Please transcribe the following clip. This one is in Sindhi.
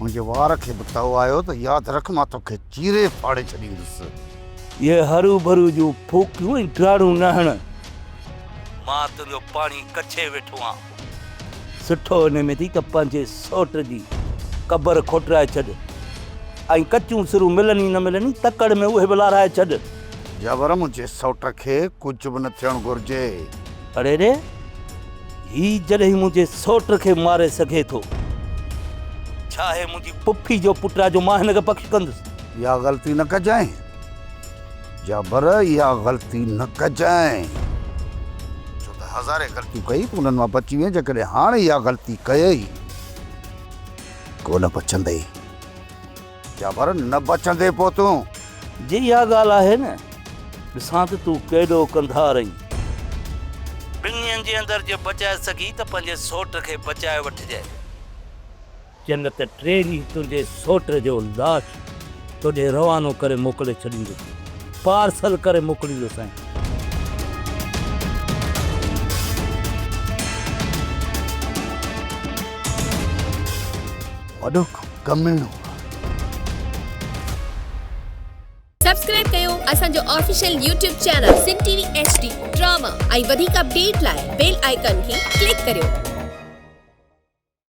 منهنجي وار کي به تئو آيو ته ياد رک مان توکي چيري ڦاڙي ڇڏيندس. اهي هرو ڀرو جون ڦوڪيون ۽ ڊاڙون نه هڻ. مان تنهنجو پاڻي ڪڇي ويٺو آهيان. سٺو ان ۾ ٿي ته پنهنجي سئوٽ جي قبر کوٽرائي ڇڏ ۽ ڪچيون سرون ملن ئي نه ملن ئي تڪڙ ۾ اهي به لارائي ڇڏ. جابر منهنجي سئوٽ کي ڪجهه به نه ٿيڻ گهرجي. اڙي ڙي! هي جڏهن منهنجي سؤٽ کي ماري سگهي ٿو، ڇا هي منهنجي پڦي جو پٽ آ جو مان هن کي بخش ڪندس؟ اها غلطي نه ڪجانء جابر، اها غلطي نه ڪجانء، ڇو ته هزارين غلطيون ڪئي تون انهن مان بچي وئين، جيڪڏهن هاڻ اها غلطي ڪيئي، ڪو نه بچندئي. يا پر نه بچندين پوء تون. جي اها ڳالهه آهي نه، ڏسان ته تون ڪيڏو ڪنڌار اهين. ٻن ڏينهن جي اندر جي بچائي سگهين ته پنهنجي سوٽ کي بچائي وٺجانء. چئه نه ته ٽي ڏينهن تنهنجي سوٽ جو لاش توڏي روانو ڪري موڪلي ڇڏيندس. پارسل ڪري موڪليندوسانء. وڏو ڪميڻو آهي. سبسڪرائب ڪيو اسان جو official YouTube channel Sindh T V H D drama ۽ وڌيڪ اپڊيٽ لاء بيل آئيڪان کي ڪلڪ ڪريو.